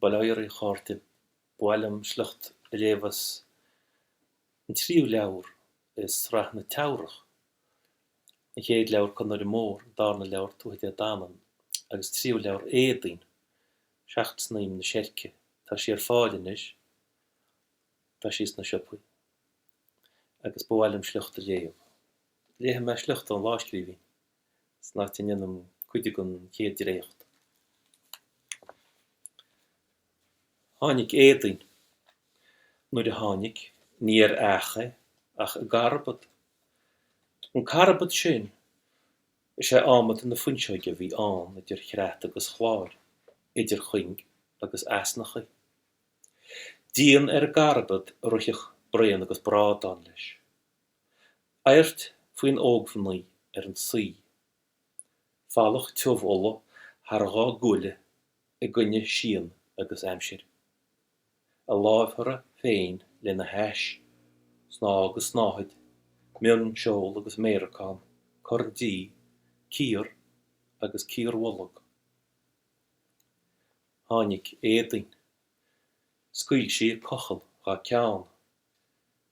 Bail oraibh, a chairde. Ba mhaith liom sliocht a léamh as an tríú leabhar i Sraith na Teamhrach, an chéad leabhar Conaire Mór, an darna leabhar Tuatha Dé Danann, agus tríú leabhar Éadaoin, Seacht Snaidhm na Seirce. Tá sí ar fáil anois. Tá sí sna siopaí. Agus ba mhaith liom sliocht a léamh. Léifidh mé sliocht ón lámhscríbhinn. san áit a ndéanaim cuid den chéad dréacht. Tháinig Éadaoin, nuair a tháinig, ní ar each é ach i gcarbad. An carbad sin, is é adhmad na fuinseoige a bhí ann idir chreat agus chláir, idir chuing agus easnachaí. Díon ar an gcarbad a rithfeadh braon agus brádán leis. Adhairt faoin ógmhnaoi ar an suí. Falach tiubh olla thar a dhá gualainn i gcoinne síon agus aimsir. A lámhearra féin lena hais, snáth agus snáthaid, mionseol agus méaracán, corn dí, cíor agus cíorbholg. Tháinig Éadaoin. Scaoil sí a cochall dhá ceann.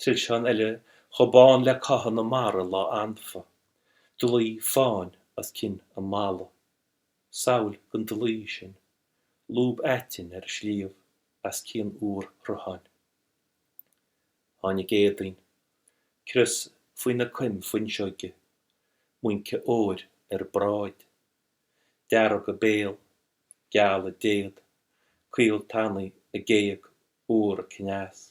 Trilseán eile chomh bán le cáitheadh na mara lá anfa, dlaoi fáin os cionn a mala, samhail den dlaoi sin, lúb aitinn ar an sliabh as cionn úrshrutháin. Tháinig Éadaoin, crios faoina coim fuinseoige, muince óir ar a bráid, dearg a béal, geal a déad, caol tanaí a géag, úr a cneas.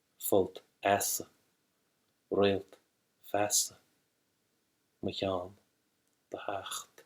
folt easa, réalt feasa, mochean do theacht.